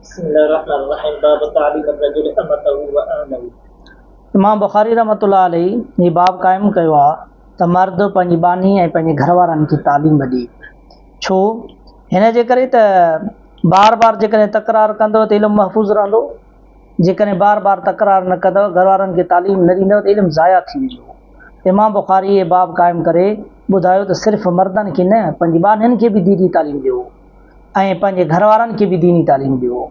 بسم الله الرحمٰن الرحيم باب تعليم الرجل امته واهله امام بخاري رحمة الله عليه هي باب قائم ڪيو آهي ته مرد پنهنجي ٻانهي ۽ پنهنجي گهر وارن کي تعليم ڏي ڇو هن جي ڪري ته بار بار جيڪڏهن تڪرار ڪندو ته علم محفوظ رهندو جيڪڏهن بار بار تڪرار نه ڪندو گهر وارن کي تعليم نه ڏيندو ته علم ضايع ٿي ويندو امام بخاري هي باب قائم ڪري ٻڌايو ته صرف مردن کي نه پنهنجي ٻانهن کي به ديني تعليم ڏيو ۽ پنهنجي گهر وارن کي به ديني تعليم ڏيو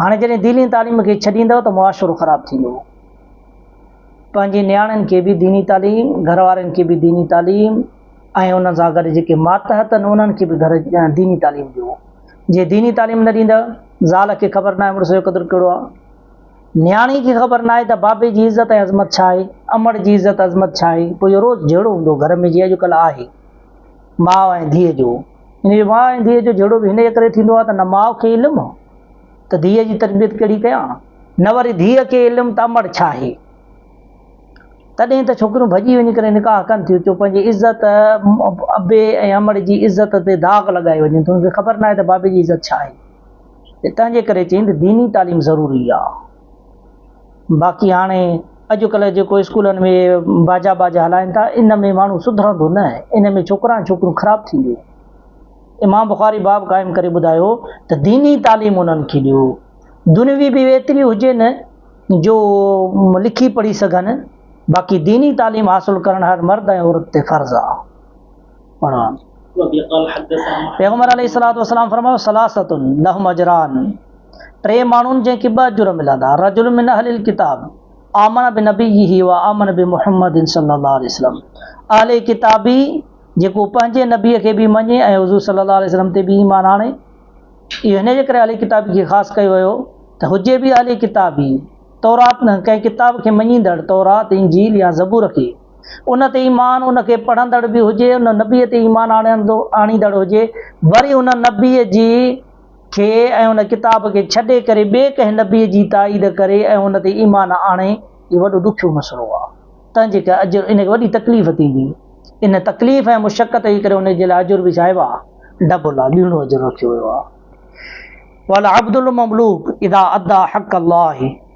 هاڻي جڏهن ديني تعليم کي ڇڏيندؤ ته معاشرو خراب ٿيندو پنهنجي نياڻين کي به ديني تعليم گهر وارن کي به ديني تعليم ۽ انهن سان گڏ جيڪي ماتحت آهن انهن کي به گهر ديني تعليم ڏيو جي ديني تعليم نه ڏيندؤ زال کي خبر ناهي مڙس جو قدر ڪهڙو آهي نياڻي کي خبر ناهي ته بابي جي عزت ۽ عظمت ڇا آهي امڙ جي عزت عظمت ڇا آهي پوء اهو روز جهڙو هوندو گهر ۾ جيئن اڄڪلهه آهي ماء ۽ ڌيء جو انهيء ماء ۽ ڌيء جو جهيڙو به انهيء ڪري ٿيندو آهي ته نه ماء کي علم هو ته ڌيء جي تربيت ڪهڙي ڪيان، نه وري ڌيء کي علم ته امڙ ڇا آهي. تڏهن ته ڇوڪريون ڀڄي وڃي ڪري نڪاح ڪن ٿيون ڇو پنهنجي عزت، ابي ۽ امڙ جي عزت تي داغ لڳائي وڃن ٿيون، ان کي خبر ناهي ته بابي جي عزت ڇا آهي. تنهنجي ڪري چيائين ته ديني تعليم ضروري آهي. باقي هاڻي اڄڪلهه جيڪو اسڪولن ۾ باجا باجا هلائن ٿا ان ۾ ماڻهو سڌرندو نه ان ۾ ڇوڪرا ۽ ڇوڪريون خراب ٿينديون امام بخاري باب قائم ڪري ٻڌايو ته ديني تعليم انهن کي ڏيو دنوي به ايتري هجي نه جو لکي پڙهي سگهن باقي ديني تعليم حاصل ڪرڻ هر مرد ۽ عورت تي فرض آهي پڙهان. پيغمبر عليه الصلوة والسلام فرمايو، ثلاثة لهم اجران، ٽي ماڻهن جنهن کي ٻه اجر ملندا، رجل من اهل الڪتاب آمن بنبيه وآمن بمحمد صلّي الله عليه وسلّم، اهل ڪتابي جيڪو پنهنجي نبي کي به مڃي ۽ حضور صلّي الله عليه وسلّم تي به ايمان آڻي. اهو هن جي ڪري اهل ڪتابي کي خاص ڪيو ويو ته هجي به اهل ڪتابي، تورات نه، ڪنهن ڪتاب کي مڃيندڙ، تورات، انجيل يا زبور کي. ان تي ايمان، ان کي پڙهندڙ به هجي، ان نبيء تي ايمان آڻيندو، آڻيندڙ هجي، وري ان نبيء جي، کي ۽ ان ڪتاب کي ڇڏي ڪري ٻئي ڪنهن نبيء جي تائيد ڪري ۽ ان تي ايمان آڻي، اهو وڏو ڏکيو مسئلو آهي. تنهن جي ڪري اجر، ان کي وڏي تڪليف ٿيندي. ان تڪليف ۽ مشقت جي ڪري ان جي لاء اجر به ڇاهي واه، ڊبل آهي، ٻيڻو اجر رکيو ويو آهي. والعبد المملوک اذا ادّى حق الله.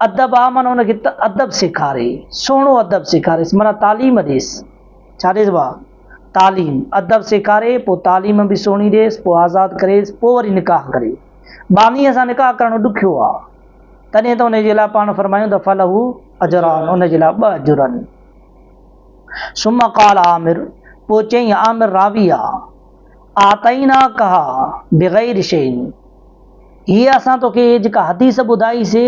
ادب آ معنيٰ ان کي ته ادب سيکاري، سهڻو ادب سيکاريس معنيٰ تعليم ڏيس. ڇا ڏيس ڀاء؟ تعليم. ادب سيکاري، پوء تعليم به سهڻي ڏيس، پوء آزاد ڪريس، پوء وري نڪاح ڪري. ٻانهيء سان نڪاح ڪرڻ ڏکيو آ. تڏهن ته ان جي لاء پاڻ فرمايون ته فله اجران، ان جي لاء ٻه اجر آهن. ثم قال عامر، پوء چيائين عامر راوي آ، اعطيناڪها بغير شيء. هيء اسان توکي جيڪا حديث ٻڌائي سي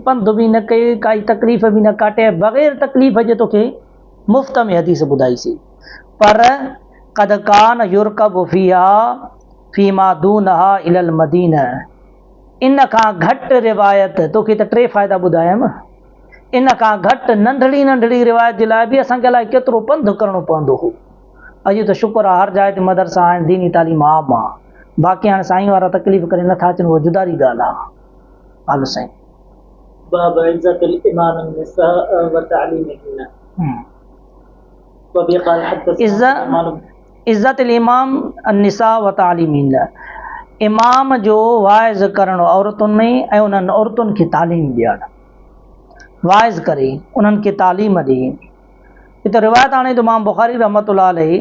پنڌ به نه ڪئي ڪائي تڪليف به نه ڪاٽي بغير تڪليف جي توکي مفت ۾ حديث ٻڌائي سي پر قد ڪان يرڪب فيها فيما دونها الى المدينه ان کان گهٽ روايت توکي ته ٽي فائدا ٻڌايم ان کان گهٽ ننڍڙي ننڍڙي روايت جي لاء به اسان کي الائي ڪيترو پنڌ ڪرڻو پوندو هو اڄ ته شڪر آ هر جاء تي مدرسا آهن ديني تعليم عام آ باقي هاڻي سائين وارا تڪليف ڪري نه ٿا اچن اها جداري ڳالهه آ هل سائين. باب عزة الامام النساء وتعليمهن وبه قال حدثنا سليمان بن. عزة الامام النساء وتعليمهن امام جو واعظ ڪرڻ عورتن ۾ ۽ انهن عورتن کي تعليم ڏيڻ واعظ ڪري انهن کي تعليم ڏي. هتي روايت آڻي ته امام بخاري رحمة الله عليه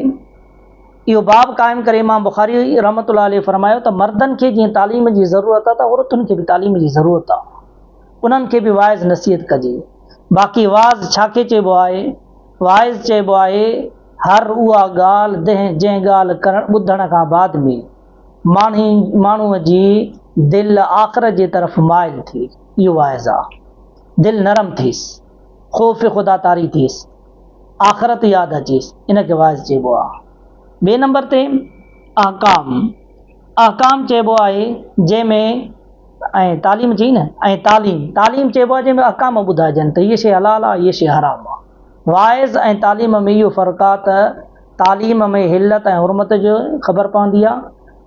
اهو باب قائم ڪري امام بخاري رحمة الله عليه فرمايو ته مردن کي جيئن تعليم جي ضرورت آهي ته عورتن کي به تعليم جي ضرورت آهي انهن کي به واعظ نصيحت ڪجي باقي واز ڇا کي چئبو آهي واعظ چئبو آهي هر اها ڳالهه دنهن جنهن ڳالهه ڪرڻ ٻڌڻ کان بعد ۾ ماڻهي ماڻهوء جي دل آخر جي طرف مائل ٿي اهو واعظ آهي دل نرم ٿيس خوف خدا طاري ٿيس، آخرت ياد اچيس، ان کي واعظ چئبو آهي. ٻئي نمبر تي احڪام، احڪام چئبو آهي جنهن ۾ ۽ تعليم چئي نه ۽ تعليم، تعليم چئبو آهي جنهن ۾ احڪام ٻڌائجن ته هيء شيء حلال آهي هيء شيء حرام آهي. واعظ ۽ تعليم ۾ اهو فرق آهي ته تعليم ۾ حلت ۽ حرمت جي خبر پوندي آهي،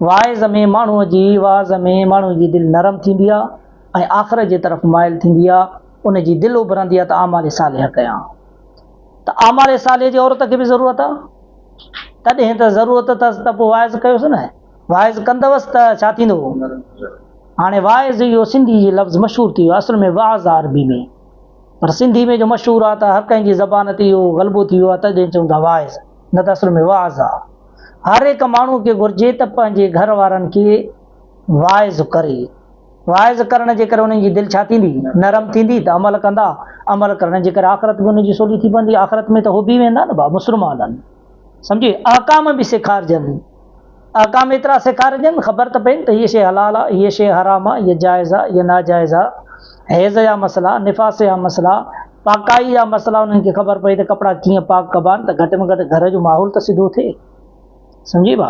واعظ ۾ ماڻهوء جي وعظ ۾ ماڻهوء جي دل نرم ٿيندي آهي ۽ آخرت جي طرف مائل ٿيندي آهي. ان جي دل اڀرندي آ ته اعمال صالحه ڪيان ته اعمال صالحه جي عورت کي به ضرورت آ تڏهن ته ضرورت ته ته پوء واعظ ڪيوس نه واعظ ڪندوس ته ڇا ٿيندو هاڻي واعظ اهو سنڌي جي لفظ مشهور ٿي ويو اصل ۾ واعظ آ عربي ۾ پر سنڌي ۾ جو مشهور آ ته هر ڪنهن جي زبان تي اهو غلبو ٿي ويو آ تڏهن چون ٿا واعظ نه ته اصل ۾ واعظ آ هر هڪ ماڻهو کي گهرجي ته پنهنجي گهر وارن کي واعظ ڪري واعظ ڪرڻ جي ڪري انهن جي دل ڇا ٿيندي؟ نرم ٿيندي ته عمل ڪندا، عمل ڪرڻ جي ڪري آخرت به انهن جي سولي ٿي پوندي، آخرت ۾ ته هو به ويندا نه ڀا مسلمان آهن سمجهي، احڪام به سيکارجن، احڪام ايترا سيکارجن خبر ته پين ته هيء شيء حلال آ، هيء شيء حرام آ، هيء جائز آ، هيء ناجائز آ، حيض جا مسئلا، نفاس جا مسئلا، پاڪائي جا مسئلا انهن کي خبر پئي ته ڪپڙا ڪيئن پاڪ ڪبا آهن ته گهٽ ۾ گهٽ گهر جو ماحول ته سڌو ٿئي سمجهي ڀا.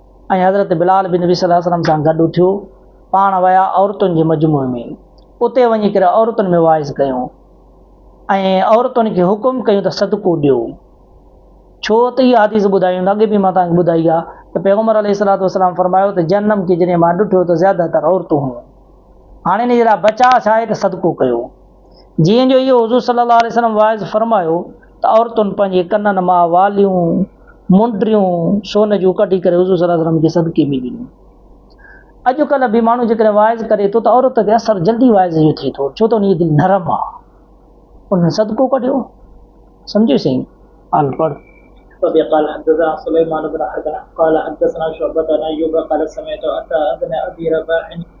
۽ حضرت بلال به نبي صلّي اللّٰه عليه وسلّم سان گڏ اٿيو، پاڻ ويا عورتن جي مجموعي ۾، اتي وڃي ڪري عورتن ۾ واعظ ڪيو ۽ عورتن کي حڪم ڪيو ته صدقو ڏيو، ڇو ته اها حديث ٻڌايون ته اڳي به مان توهان کي ٻڌائي آهي ته پيغمبر عليه الصلّٰه والسلّام فرمايو ته جهنّم کي جڏهن مان ڏٺو ته زياده تر عورتون هيون، هاڻي ان جي لاء بچاء ڇا آهي ته صدقو ڪيو. جيئن جو اهو حضور صلي الله عليه وسلم واعظ فرمايو ته عورتن پنهنجي ڪنن مان واليون، منڊريون، سون جون ڪڍي ڪري حضور صلي الله عليه وسلم کي صدقي ۾ ڏنيون. اڄڪلهه به ماڻهو جيڪڏهن واعظ ڪري ٿو ته عورت تي اثر جلدي واعظ جو ٿئي ٿو ڇو ته ان جي دل نرم آهي. انهن صدقو ڪڍيو. سمجهيو سائين؟ آل پڙهه. وبه قال حدثنا سليمان بن حرب قال حدثنا شعبة عن ايوب قال سمعت عطاء بن ابي رباح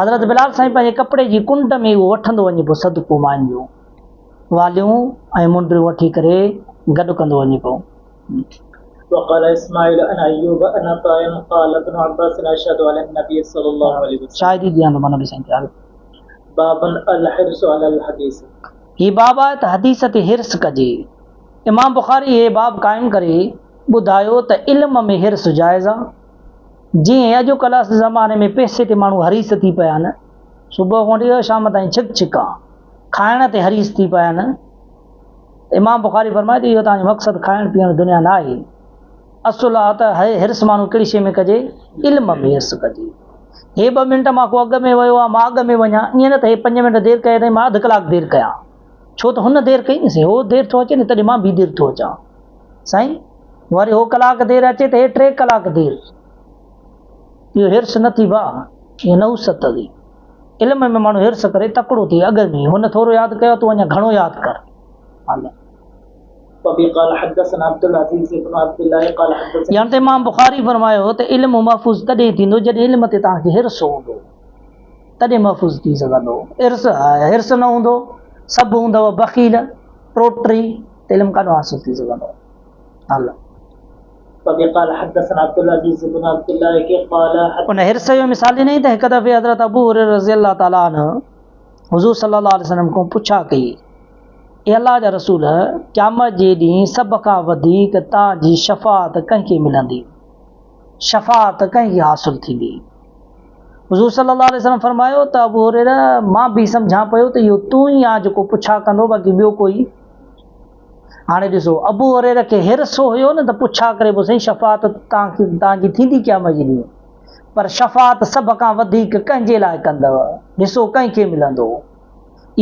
حضرت بلال سائين پنهنجي ڪپڙي جي ڪنڊ ۾ اهو وٺندو وڃي پيو صدقو ماين جون واليون ۽ منڊيون وٺي ڪري گڏ ڪندو وڃي پيو. شاهدي ڏيان ٿو مان نبي سائين تي حضرت. هي باب آهي ته حديث تي حرص ڪجي. امام بخاري هي باب قائم ڪري ٻڌايو ته علم ۾ حرص جائز آ، جيئن اڄ ڪلهه جي زماني ۾ پئسي تي ماڻهو حريص ٿي پيا آهن، صبح کان وٺي شام تائين ڇڪ ڇڪا کائڻ تي حريص ٿي پيا آهن، امام بخاري فرمائي ٿو اهو توهان جو مقصد کائڻ پيئڻ دنيا نه آهي، اصل آ ته حرص ماڻهو ڪهڙي شيء ۾ ڪجي، علم ۾ حرص ڪجي، هي ٻه منٽ مان ڪو اڳ ۾ ويو آ مان اڳ ۾ وڃان، ائين نه ته هي پنج منٽ دير ڪيو اٿئي مان اڌ ڪلاڪ دير ڪيان. ڇو ته هن دير ڪئي نه سائين، هو دير ٿو اچي نه تڏهن مان به دير ٿو اچان سائين، وري هو ڪلاڪ دير اچي ته هي ٽي ڪلاڪ دير، اهو حرص نه ٿي ڀاء، اهو نحوست ٿي، علم ۾ ماڻهو حرص ڪري تڪڙو ٿئي، اڳ ۾ هن ٿورو ياد ڪيو تون اڃا گهڻو ياد ڪر. الله. وبه قال حدثنا عبدالعزيز بن عبدالله قال حدثنا. يعني ته امام بخاري فرمايو ته علم محفوظ تڏهن ٿيندو جڏهن علم تي توهان کي حرص هوندو. تڏهن محفوظ ٿي سگهندو. حرص آء حرص نه هوندو، سڀ هوندؤ بخيل، ٽوٽري، ته علم ڪاڏو حاصل ٿي سگهندو. الله. وبه قال حدثنا عبدالعزيز بن عبدالله ڪي قال حدثنا. ان حرص جو مثال ڏنائين ته هڪ دفعي حضرت ابو هريره رضي الله تعالٰي عنه حضور صلي الله عليه وسلم کان پڇا ڪئي، اي الله جا رسول! قيامت جي ڏينهن سڀ کان وڌيڪ توهان جي شفاعت ڪنهن کي ملندي؟ شفاعت ڪنهن کي حاصل ٿيندي؟ حضور صلي الله عليه وسلم فرمايو ته ابو هريره مان به سمجهان پيو ته اهو تون ئي آن جيڪو پڇا ڪندو باقي ٻيو ڪوئي؟ هاڻي ڏسو ابو هريره کي حرص هيو نه ته پڇا ڪري به سهي شفاعت تان کي تان جي ٿيندي قيامت جي ڏينهن پر شفاعت سڀ کان وڌيڪ ڪنهن جي لاء ڪندو؟ حصو ڪنهن کي ملندو؟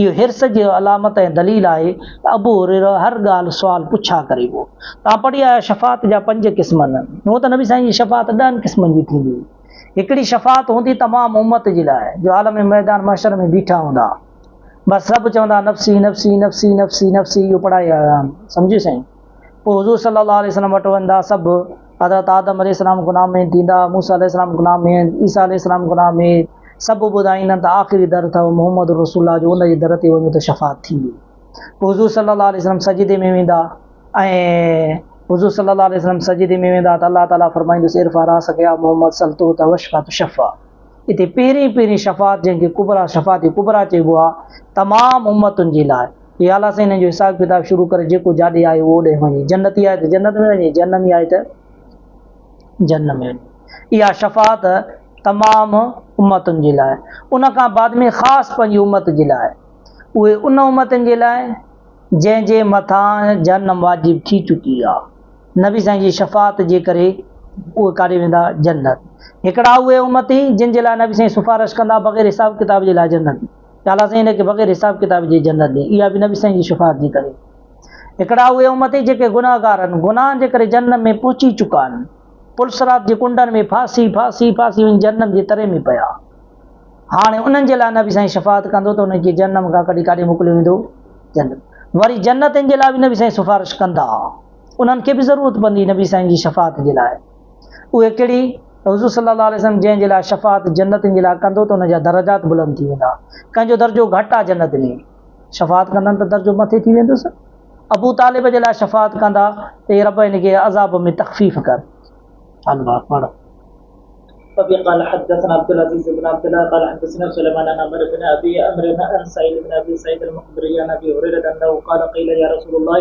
اهو حرص جي علامت ۽ دليل آهي ته ابو هريره هر ڳالهه سوال پڇا ڪري هو. توهان پڙهي آيا شفاعت جا پنج قسم نه. هونء ته نبي سائين جي شفاعت ڏهن قسمن جي ٿيندي هئي. هڪڙي شفاعت هوندي تمام امت جي لاء جو عالم ميدان محشر ۾ بيٺا هوندا. بس سڀ چوندا نفسي نفسي نفسي نفسي نفسي اهو پڙهائي آيا آهن. سمجهيو سائين. پوء حضور صلّي اللّٰه عليه وسلّم وٽ ويندا سڀ، حضرت آدم عليه السّلام غلام مين ٿيندا، موسيٰ عليه السّلام غلام مين، عيسيٰ عليه السّلام غلام مين، سڀ ٻڌائيندن ته آخري در اٿو محمّد رسول الله جو ان جي در تي وڃو ته شفاعت ٿيندي. پوء حضور صلّي اللّٰه عليه وسلّم سجدي ۾ ويندا ۽، حضور صلّي اللّٰه عليه وسلّم سجدي ۾ ويندا ته الله تعاليٰ فرمائيندس ارفع راسك يا محمّد سل تعطيٰ واشفع تشفع اتي پهرين پهرين شفاعت جنهن کي ڪبريٰ شفاعت ڪبريٰ چئبو آهي تمام امّتن جي لاء، يا الله سائين هن جو حساب ڪتاب شروع ڪري جيڪو جاڏي آيو اهو ڏي وڃي جنتي آهي ته جنت ۾ وڃي جهنمي آهي ته جهنم ۾ وڃي اها شفاعت تمام امتن جي لاء ان کان بعد ۾ خاص پنهنجي امت جي لاء اهي ان امتن جي لاء جنهن جي مٿان جهنم واجب ٿي چڪي آهي نبي سائين جي شفاعت جي ڪري اهي ڪاڏي ويندا جنت هڪڙا اهي امتي جن جي لاء نبي سائين سفارش ڪندا بغير حساب ڪتاب جي لاء جنت تعاليٰ سائين هن کي بغير حساب ڪتاب جي جنت ڏئي، اها به نبي سائين جي شفاعت جي ڪري. هڪڙا اهي امتي جيڪي گنهگارن، گناهن جي ڪري جهنم ۾ پهچي چڪا آهن. پل صراط جي ڪنڊن ۾ ڦاسي، ڦاسي، ڦاسي وڃي جهنم جي تري ۾ پيا. هاڻي انهن جي لاء نبي سائين شفاعت ڪندو ته انهن کي جهنم کان ڪڍي ڪاڏي موڪليو ويندو؟ جنت. وري جنتين جي لاء به نبي سائين سفارش ڪندا. انهن کي به ضرورت پوندي نبي سائين جي شفاعت جي لاء. اهي ڪهڙي؟ ته حضور صلي الله عليه وسلم جنهن جي لاء شفاعت جنتين جي لاء ڪندو ته ان جا درجات بلند ٿي ويندا. ڪنهن جو درجو گهٽ آهي جنت ۾ شفاعت ڪندن ته درجو مٿي ٿي ويندس. ابو طالب جي لاء شفاعت ڪندا ته اي رب هن کي عذاب ۾ تخفيف ڪر. الله پڙهه. وبه قال حدثنا عبدالعزيز بن عبدالله قال حدثنا سليمان عن عمرو بن ابي عمرو عن سعيد بن ابي سعيد المقبري عن ابي هريرة انه قال قيل يا رسول الله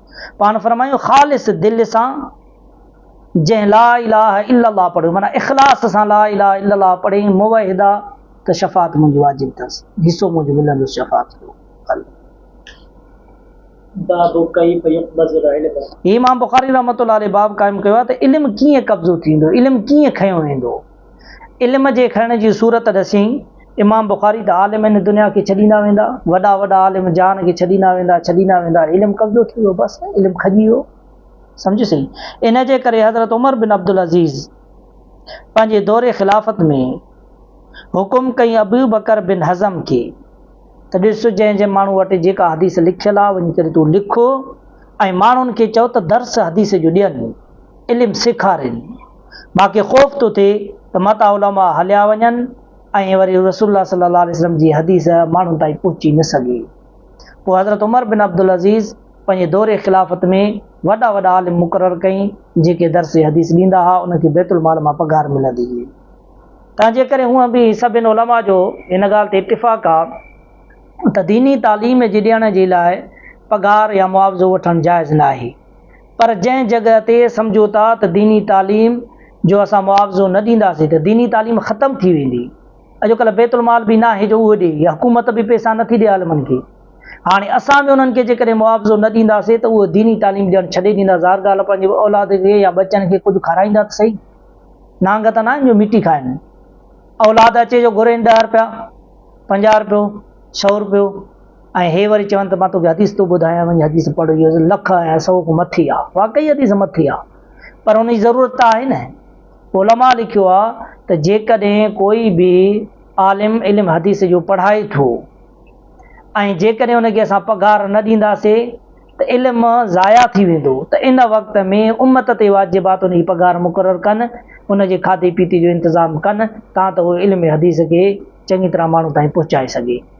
پاڻ فرمايو خالص دل سان جنهن لا اله الا الله پڙهيو معنيٰ اخلاص سان لا اله الا الله پڙهي موحدا ته شفاعت منهنجي واجب اٿس حصو منهنجو ملندس شفاعت جو حل باب ڪيف يقبض العلم امام بخاري رحمة الله عليه باب قائم ڪيو آهي ته علم ڪيئن قبضو ٿيندو علم ڪيئن کنيو ويندو علم جي کڻڻ جي صورت ڏسين، امام بخاري ته عالم هن دنيا کي ڇڏيندا ويندا، وڏا وڏا عالم جهان کي ڇڏيندا ويندا، ڇڏيندا ويندا، علم قبضو ٿي ويو، بس علم کڄي ويو. سمجهه سهي. ان جي ڪري حضرت عمر بن عبدالعزيز پنهنجي دور خلافت ۾ حڪم ڪيائين ابوبڪر بن حزم کي ته ڏس جنهن جنهن ماڻهو وٽ جيڪا حديث لکيل آهي وڃي ڪري تون لک ۽ ماڻهن کي چئو ته درس حديث جو ڏين، علم سيکارين. مان کي خوف ٿو ٿئي ته متان علماء هليا وڃن ۽ وري رسول الله صلي الله عليه وسلم جي حديث ماڻهن تائين پهچي نه سگهي. پوء حضرت عمر بن عبدالعزيز پنهنجي دور خلافت ۾ وڏا وڏا عالم مقرر ڪئي جيڪي درس حديث ڏيندا ها انهن کي بيت المال مان پگهار ملندي هئي. تنهنجي ڪري هونء به سڀن علماء جو ان ڳالهه تي اتفاق آ ته ديني تعليم جي ڏيڻ جي لاء پگهار يا معاوضو وٺڻ جائز ناهي. پر جنهن جڳهه تي سمجهو ٿا ته ديني تعليم جو اسان معاوضو نه ڏينداسين ته ديني تعليم ختم ٿي ويندي. اڄڪلهه بيت المال به ناهي جو اهو ڏي يا حڪومت به پئسا نٿي ڏي عالمن کي. هاڻي اسان به انهن کي جيڪڏهن معاوضو نه ڏينداسين ته اهي ديني تعليم ڏيڻ ڇڏي ڏيندا ظاهر ڳالهه پنهنجي اولاد کي يا ٻچن کي ڪجهه کارائيندا ته سهي. نانگ ته ناهن جو مٽي کائن. اولاد اچي جو گهرين ڏهه رپيا، پنجاهه رپيو، سؤ رپيو. ۽ هي وري چون ته مان توکي حديث ٿو ٻڌايان وڃي حديث پڙهه اهي لک ۽ سؤ کان مٿي آهي واقعي حديث مٿي آهي پر ان جي ضرورت ته آهي نه علماء لکيو آهي ته جيڪڏهن ڪوئي به عالم علم حديث جو پڙهائي ٿو ۽ جيڪڏهن ان کي اسان پگهار نه ڏينداسي ته علم ضايع ٿي ويندو ته ان وقت ۾ امت تي واجب آهي ته ان جي پگهار مقرر ڪن ان جي کاڌي پيتي جو انتظام ڪن تان ته علم حديث کي چڱي طرح ماڻهو تائين پهچائي سگهي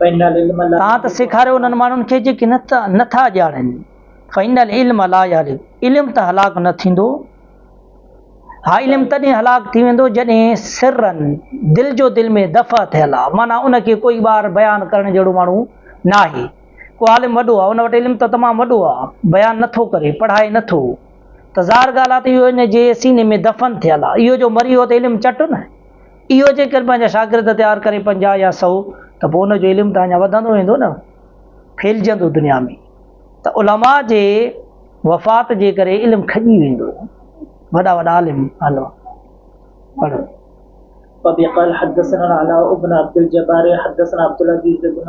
تان ته سيکاريو انهن ماڻهن کي جيڪي نه ٿا ڄاڻن، فإن العلم لا يهلڪ، علم ته هلاڪ نه ٿيندو، ها علم تڏهن هلاڪ ٿي ويندو جڏهن سرن، دل جو دل ۾ دفع ٿيل آ، معنيٰ ان کي ڪوئي ٻاهر بيان ڪرڻ جهڙو ماڻهو ناهي، ڪو عالم وڏو آ، ان وٽ علم ته تمام وڏو آ، بيان نه ٿو ڪري، پڙهائي نه ٿو، ته ظاهر ڳالهه آ ته اهو ان جي سيني ۾ دفن ٿيل آ، اهو جو مري ويو ته علم چٽ نه. اهو جيڪر پنهنجا شاگرد تيار ڪري پنجاهه يا سؤ ته پوء ان جو علم ته اڃا وڌندو ويندو نه ڦهلجندو دنيا ۾ ته علماء جي وفات جي ڪري علم کڄي ويندو وڏا وڏا عالم علماء پڙهو وبه قال حدثنا العلاء بن عبد الجبار حدثنا عبد العزيز بن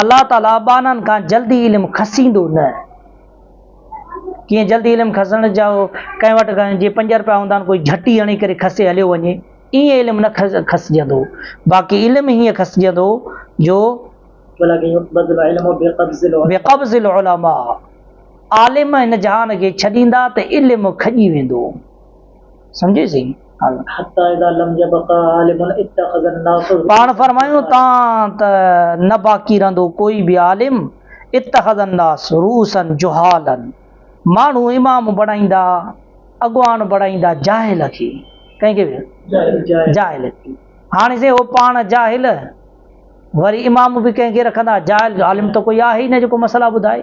الله تعاليٰ ٻانهن کان جلدي علم کسيندو نه. ڪيئن جلدي علم کسڻ جا ڪنهن وٽ جي پنج رپيا هوندا آهن ڪوئي جهٽي هڻي ڪري کسي هليو وڃي ايئن علم نه کسجندو باقي علم هيئن کسجندو جو بقبض العلماء عالم هن جهان کي ڇڏيندا ته علم کڄي ويندو سمجهي سين. حتي اذا لم يبق عالم اتخذ الناس الهو. پاڻ فرمايون تان ته نه باقي رهندو ڪوئي به عالم اتخذ الناس رؤوسا جهالا ماڻهو امام بڻائيندا اڳواڻ بڻائيندا جاهل کي ڪنهن کي جاهل کي هاڻي سائين هو پاڻ جاهل وري امام به ڪنهن کي رکندا جاهل عالم ته ڪوئي آهي ئي نه جيڪو مسئلا ٻڌائي.